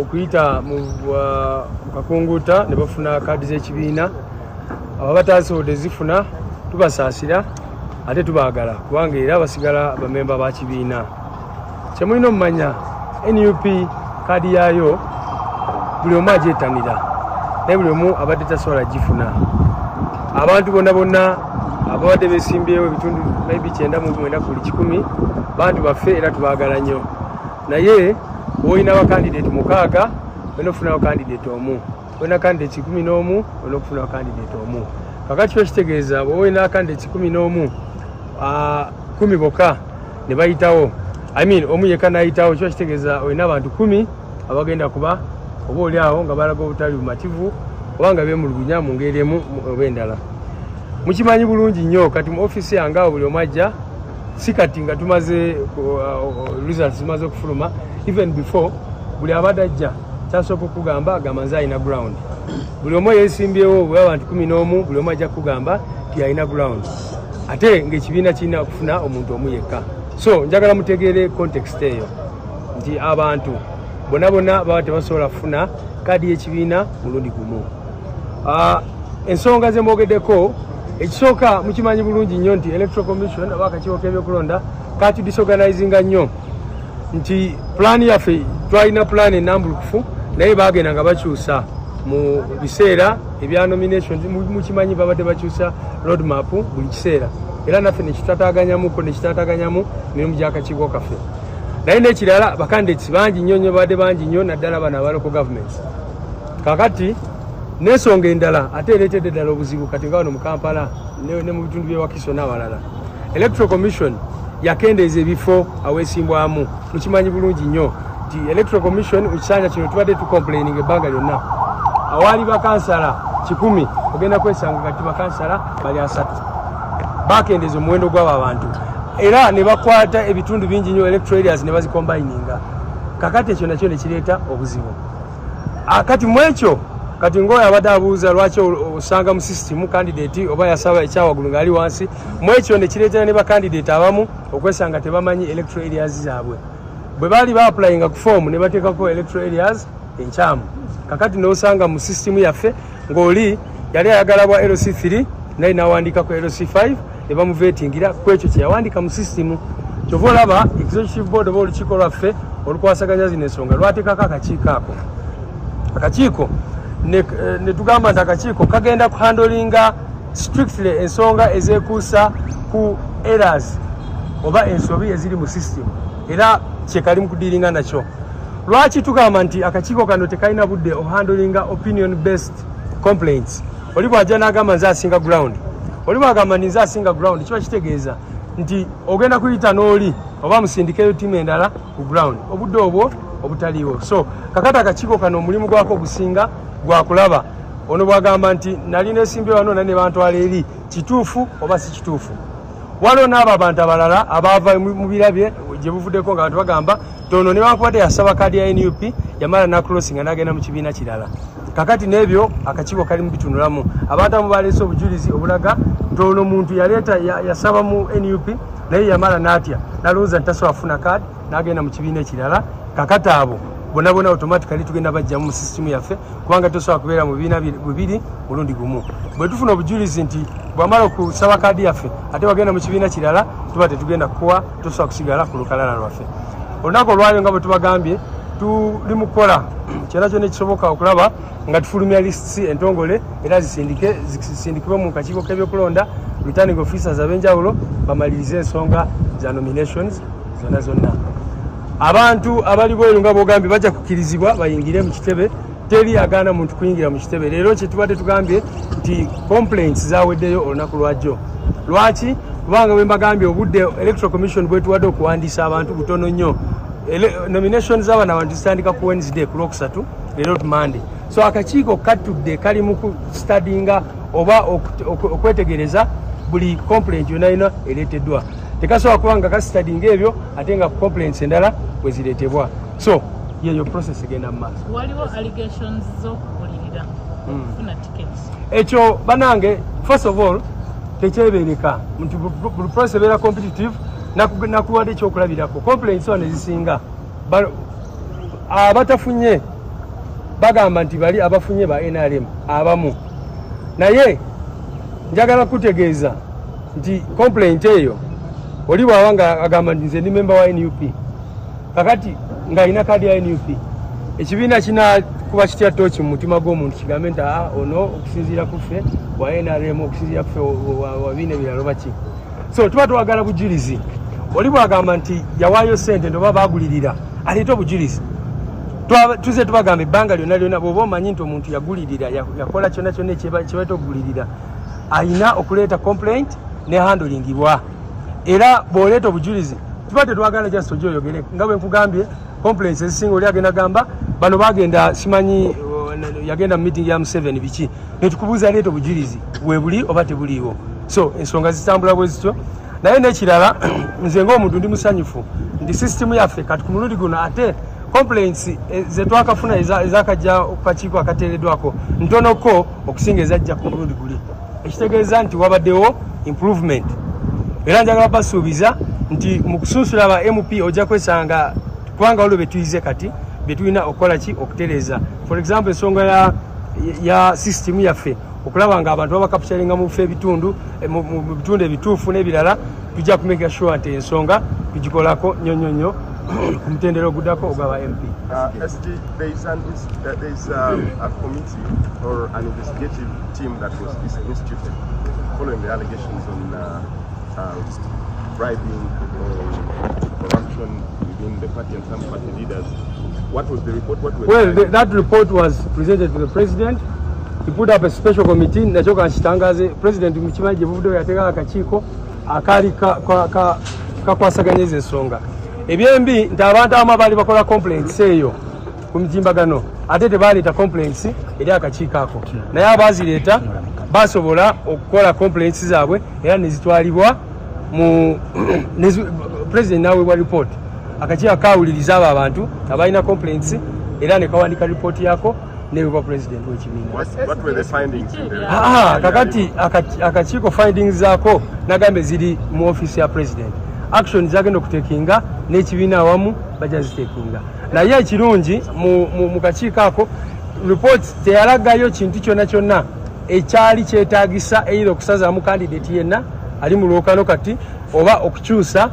okuyita mu kakunguuta ne bafuna kaadi z'ekibiina abo abataasobodde zifuna tubasaasira ate tubaagala kubanga era basigala bamemba ba kibiina kyemulina omumanya nup kaadi yaayo buli omu agyetanira naye buli omu abadde tasobola gifuna abantu bonna bonna ababadde besimbyewo ebitundu maybe kyenda mu mwenda kuli kikumi bantu baffe era tubaagala nnyo naye olina bakandidate mukaaga olina okufunawo kandidate omu olina kandidate kikumi n'omu olina okufunawo kandidate omu kakati kiba kitegeeza bwoba olina kandidate kikumi n'omu kumi boka ne bayitawo i mean omu yekka nayitawo kiba kitegeeza olina abantu kumi abagenda kuba oba oli awo nga balaga obutali bumativu oba nga bemulugunya mu ngeri emu oba endala mukimanyi bulungi nnyo kati mu ofisi yange awo buli omu ajja si kati nga tumaze uh, result zimaze okufuluma even before buli abadde ajja kyasooka okugamba agamba nze alina ground buli omu eyesimbyewo bwe abantu kumi n'omu buli omu ajja kukugamba ti alina ground ate ngaekibiina kirina okufuna omuntu omu yekka so njagala mutegeere context eyo nti abantu bona bona baba tebasobola kufuna kaadi y'ekibiina mulundi gumu uh, ensonga zemwogeddeko ekisooka mukimanyi bulungi nnyo nti electoral commission oba akakiiko k'ebyokulonda katu disorganizinga nnyo nti pulaani yaffe twalina pulaani enambulukufu naye bagenda nga bakyusa mu biseera ebya nomination mukimanyi babadde bakyusa road map buli kiseera era naffe nekitataganyamuko nekitataganyamu mirimu gyakakiiko kaffe naye nekirala bakandidati bangi nnyo nnyo babadde bangi nnyo naddala bano abaloko governments kakati n'ensonga endala ate ereetedde ddala obuzibu kati nga wano mu kampala ne mu bitundu byewakiso n'awalala electoral commission yakendeeza ebifo aweesimbwamu mukimanyi bulungi nnyo nti electoral commission mu kisanja kino tubadde tucomplaining ebbanga lyonna awaali bakansala kikumi ogenda kwesanga kati bakansala bali asatu bakendeeza omuwendo gw'abo abantu era ne bakwata ebitundu bingi nnyo electoral areas ne bazikombayininga kakati ekyo nakyo ne kireeta obuzibu Ah, kati mwekyo kati ngoyo abadde abuuza lwaki osanga mu system candidate oba yasaba ekyawagulu ngaali wansi mwekyo nekireetera ne bacandidate abamu okwesanga tebamanyi electoral areas zaabwe bwe baali baapulayinga ku foomu ne bateekako electoral areas enkyamu kakati nosanga mu system yaffe ng'oli yali ayagala bwa LC3 naye nawandiika ku LC5 ne bamuveetingira ku ekyo kye yawandiika mu sisitimu kyova olaba executive board oba olukiiko lwaffe olukwasaganya zino ensonga lwateekako akakiiko ako akakiiko eh, ne tugamba nti akakiiko kagenda ku handolinga strictly ensonga ezekuusa ku eras oba ensobi eziri mu sisitimu era kyekali mukudiringa nakyo lwaki tugamba nti akakiiko kano tekalina budde ohandlinga opinion based complaints oli bwaja nagamba nze asinga ground oli bwagamba nti nze asinga ground kiba kitegeeza nti ogenda kuyita n'oli oba musindikeyo tiimu endala ku ground obudde obwo obutaliiwo so kakati akakiiko kano omulimu gwako gusinga gwakulaba ono bwagamba nti nali nesimbye wano nane bantwala eri kituufu oba si kituufu waliwo n'abo abantu abalala abaava mu birabye gye buvuddeko nga bantu bagamba tono newankubadde yasaba kaadi ya nup yamala nakulosi nga nagenda mu kibiina kirala kakati n'ebyo akakiiko kali mu bitunulamu abantu amu baleese obujulizi obulaga nti ono muntu yaleeta yasaba mu nup naye yamala n'atya nalowooza nti tasobola kufuna kaadi nagenda mu kibiina ekirala kakati abo bonabona automatically tugenda bajjamu mu system yaffe kubanga tosobola kubeera mu bibiina bibiri mulundi gumu bwe tufuna obujulizi nti bwamala okusaba kaadi yaffe ate wagenda mu kibiina kirala tuba tetugenda kukuwa tosobola kusigala ku lukalala lwaffe olunaku olwalyo nga bwe tubagambye tuli mu kukola kyona kyona ekisoboka okulaba nga tufulumya lists entongole era zisindike zisindikibwe mu kakiiko k'ebyokulonda returning officers ab'enjawulo bamalirize ensonga za nominations zonna zonna abantu abali bweru nga bogambye bajja kukirizibwa bayingire mu kitebe teri agaana muntu kuyingira mu kitebe leero kyetubadde tugambye nti complaints zaweddeyo olunaku lwajjo lwaki kubanga bwembagambye obudde electoral commission bwetuwadde okuwandiisa abantu butono nnyo nomination zaabana abantu zitandika ku wednesday ku lwokusatu leero tumande so akakiiko katudde kali mu kustadinga oba okwetegereza buli complaint yona yona ereteddwa tekasobola kuba nga kasitadinga ebyo ate nga complaints endala weziretebwa so yeyo process egenda mu maaso waliwo allegations zokubulirira hmm. okufuna tickets ekyo banange first of all tekyebereka nti buli process ebeera competitive nakuwade ekyokulabirako complaints one ezisinga abatafunye bagamba nti bali abafunye ba nrm abamu naye njagala kutegeeza nti complaint eyo oli bwaba nga agamba nti nze ndi memba wa nup kakati ngaalina kaadi ya nup ekibiina kinakuba kitya tooki mu mutima gw'omuntu kigambe nti aa ah, ono okusinziira kuffe wa nrm okusinziira kuffe wabiina ebirala oba ki so tuba twagala bujirizi oli bwagamba nti yawaayo sente nti oba bagulirira aleeta obujirizi tuze tubagamba ebbanga lyona lyona bwoba omanyi nti omuntu yagulirira yakola kyona kyona kyebaita okugulirira ayina okuleeta complaint ne handlingibwa era bwoleeta obujirizi tuba tetwagala just oja oyogere nga bwenkugambye complaints ezisinga oli agenda gamba bano bagenda simanyi uh, yagenda mu meeting ya museven biki netukubuuza leeta obujirizi webuli oba tebuliiwo so ensonga zitambula bwe zityo naye nekirala nze ngaomuntu ndi musanyufu nti system yaffe kati ku mulundi guno ate complaints eh, zetwakafuna ezakajja kukakiiko akateeredwako ntonoko okusinga ezajja ku mulundi guli ekitegeeza nti wabaddewo improvement era njagala basuubiza nti mu kusunsula ba mp ojja kwesanga kubanga waliwo betuyize kati betulina okukola ki okutereeza for example ensonga ya, ya system yaffe okulaba nga abantu babakapitalinga mu bifo ebitundu eh, mu bitundu ebituufu n'ebirala tujja kumeka sure nti ensonga tugikolako nnyo nnyo nnyo ku mutendera ogudako ogwaba mp uh, uh, following the allegations on uh, Well, the, that report was presented to the president. He put up a special committee nakyo kankitangaze president mukimanyi gye buvuddeyo yateekako akakiiko akaali kakwasaganya ezo ensonga ebyembi nti abantu abamu abaali bakola complaints eyo ku mitimbagano ate tebaaleeta complaints eri akakiiko ako naye abaazireeta basobola okukola complaints zaabwe era nezitwalibwa mu president naweebwa report akakiiko kawuliriza abo abantu abalina complaints era nekawandika report yako nebwa president wekibiina ah, ah, kakati akakiiko findings zako nagambe ziri mu office ya president action zagenda okutekinga n'ekibiina awamu bajja zitekinga naye ekirungi mu kakiiko ako ripooti teyalagayo kintu kyonna kyonna ekyali kyetagisa eira okusazaamu kandidati yenna ali mu lwokano kati oba okukyusa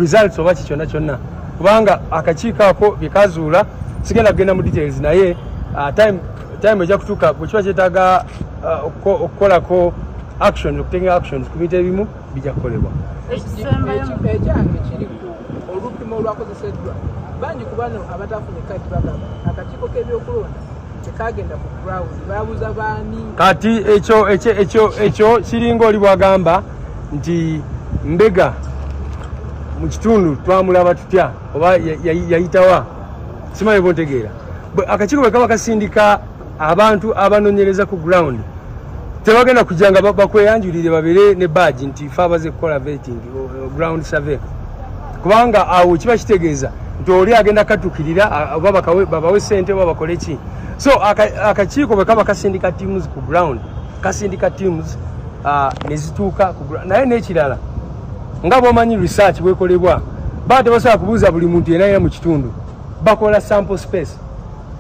results oba kikyonna kyonna kubanga akakiiko ako byekazuula sigenda kugenda mu details naye uh, time time ejja kutuuka bwekiba kyetaaga uh, okukolako actions okutenga actions ku bintu ebimu bija kukolebwa ekisembayo ekyange kiri ku olupimo olwakozeseddwa bangi ku bano abatafuna ekadi bagamba akakiiko k'ebyokulonda tekagenda ku ground babuza baani kati ekyo ekyo ekyo ekyo kiringa oli bwagamba nti mbega mu kitundu twamulaba tutya oba yayitawa simanyi bontegeera akakiiko bwe kaba kasindika abantu abanonyereza ku ground tebagenda kujja nga bakweyanjulire babere ne badge nti fe abaze kukola vetting ground survey kubanga awo kiba kitegeeza nti oli agenda katukirira oba babawe sente oba bakole ki so akakiiko bwe kaba kasindika teams ku ground kasindika teams uh, nezituuka naye nekirala nga bwomanyi research bwekolebwa baa tebasobola kubuuza buli muntu yenayina mu kitundu bakola sample space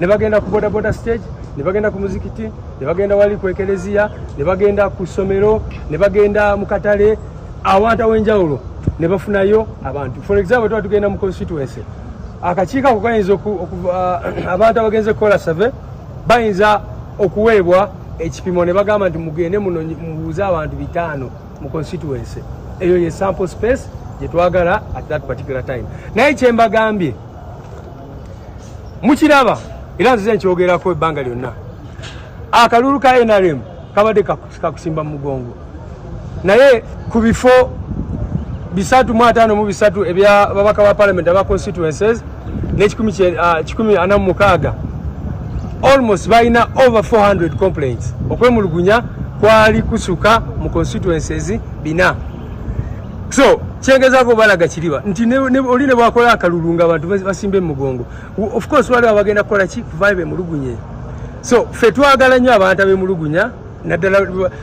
ne bagenda ku bodaboda stage ne bagenda ku muzikiti ne bagenda wali ku ekeleziya ne bagenda ku ssomero ne bagenda mu katale awantu aw'enjawulo ne bafunayo abantu for example tuba tugenda mu constituency akakiiko ako kayinza abantu abagenze kukola save bayinza okuweebwa ekipimo ne bagamba nti mugende muno mubuuze abantu bitaano mu constituency eyo ye sample space gyetwagala at that particular time naye kyembagambye mukiraba era nzize nkyogerako ebbanga lyonna akalulu ka nrm kabadde kakusimba mu mugongo naye ku bifo bisatu mu ataano mu bisatu ebya babaka ba palamenti aba constituences n'ekikumi ah, kikumi ana mu mukaaga almost balina over 400 complaints okwemulugunya kwali kusuka mu constituences bina so kyengezaako balaga kiriba nti oli ne bwakola akalulu nga abantu basimba emugongo of course waliwo abagenda kukola ki kuvayo bemulugunye so fe twagala nnyo abantu abemulugunya naddala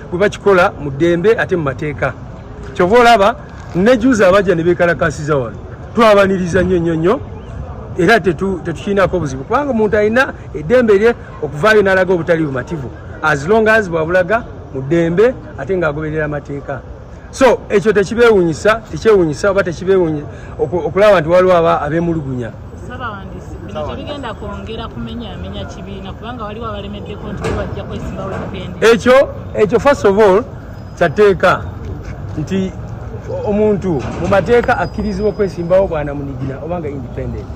bwe bakikola mu ddembe ate mu mateeka kyova olaba nejuza abajja ne bekalakasiza wano twabaniriza nnyo nnyo nnyo era tetukiinaako buzibu kubanga omuntu alina eddembe lye okuvaayo n'alaga obutali bumativu as long as bwabulaga mu ddembe ate ng'agoberera amateeka so ekyo tekibeewunyisa tekyewunyisa oba tekibeewunyisa okulaba nti waliwo aba abeemulugunya ekyo ekyo first of all kyateeka nti omuntu mu mateeka akkirizibwa okwesimbawo bwanamunigina oba nga independent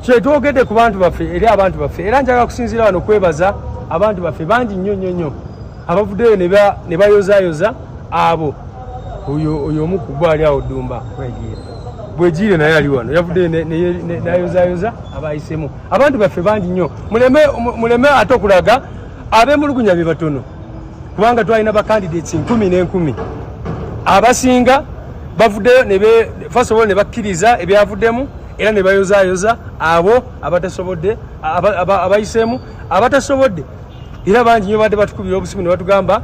kyetwogedde ku bantu baffe eri abantu baffe era njagala kusinziira wano kwebaza abantu baffe bangi nnyo nnyo nnyo abavuddeyo ne bayozayoza abo oyo omu ku gwali awo ddumba bwegiire naye ali wano yavuddeyo nayozayoza abayisemu abantu baffe bangi nnyo muleme ate okulaga abemulugunya be batono kubanga twalina ba candidates nkumi n'enkumi abasinga bavuddeyo fasobola ne bakkiriza ebyavuddemu era ne bayozayoza abo abatasobodde abayiseemu abatasobodde era bangi nyo badde batukubira obusimu ne batugamba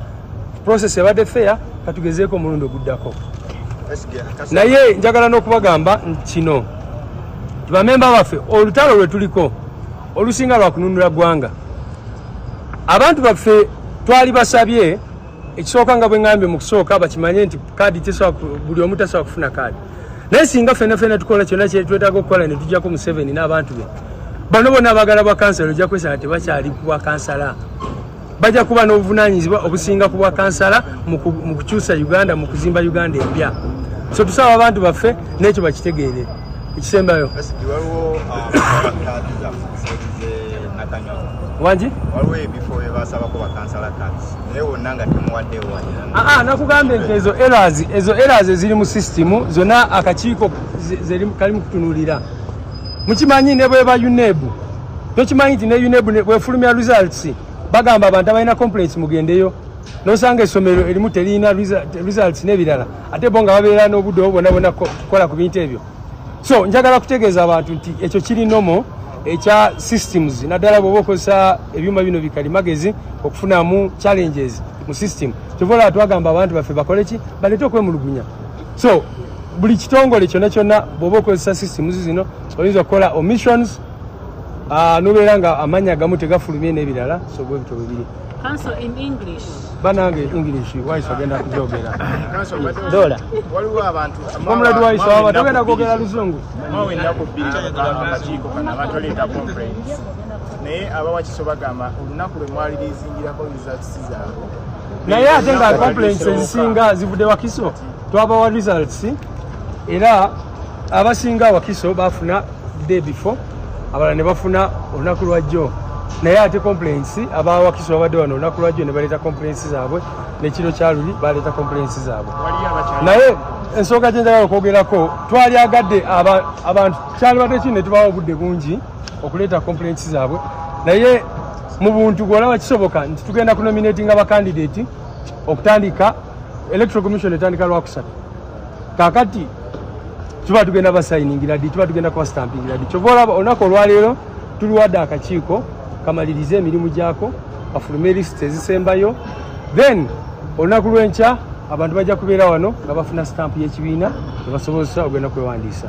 process ebadde feya katugezeeko omulundi oguddako naye njagala n'okubagamba kino bamemba baffe olutalo lwe tuliko olusinga lwa kununula ggwanga abantu baffe twali basabye ekisooka nga bwe ŋambye mu kusooka bakimanye nti kaadi buli omu tasobola kufuna kaadi naye singa fena fena tukola kyonna kyetwetaaga okukola ne tujjako museveni n'abantu be bano bona abagala bwa kansala ojja kwesanga tebakyali bwa kansala bajja kuba n'obuvunaanyizibwa obusinga ku bwa kansala mu kukyusa uganda mu kuzimba uganda empya so tusaba abantu baffe n'ekyo bakitegeere ekisembayo wangi nakugambye nti ezo eras ezo eras eziri mu sisitimu zonna akakiiko kali mu kutunuulira mukimanyi ne bweba uneb tokimanyi nti ne uneb bwefulumya results bagamba abantu abalina complaints mugendeyo nosanga essomero erimu terina results nebirala ate bo nga babeera n'obudde obo bona bona kukola ku bintu ebyo so njagala kutegeeza abantu nti ekyo kiri nomo ekya systems naddala bwoba okozesa ebyuma bino bikali magezi okufunamu challenges mu system kyovaolaba twagamba abantu baffe bakoleki baleete okwemulugunya so buli kitongole kyona kyona bwoba okozesa systems zino oyinza okukola omissions ah, nobeera nga amanya agamu tegafulumye nebirala so bwebito bwebiri banange english wise agenda kujogera dola omuladi wise waba togenda kwogera luzungu naye abawakiso bagamba olunaku lwemwali lizingirako results zaabwe naye ate nga complaints ezisinga zivudde wakiso twabawa results era abasinga wakiso bafuna day before abalala ne bafuna olunaku lwajjo naye ate complaints aba wakiso babadde wano olunaku lwajjo ne baleeta complaints zaabwe nekiro kyaluli baleeta complaints zaabwe naye ensonga gyenjagala okwogerako twalyagadde abantu kyalibadde kino ne tubawa obudde bungi okuleeta complaints zaabwe naye mu buntu gwolaba kisoboka nti tugenda kunominatinga bakandidati okutandika electoral commission etandika lwakusatu kakati tuba tugenda basayiningira ddi tuba tugenda kubasitampingira ddi kyova olaba olunaku olwaleero tuliwadde akakiiko kamalirize emirimu gyako kafulume lisiti ezisembayo then olunaku lwenkya abantu bajja kubeera wano nga bafuna sitampu y'ekibiina ebasobozesa ogenda kwewandiisa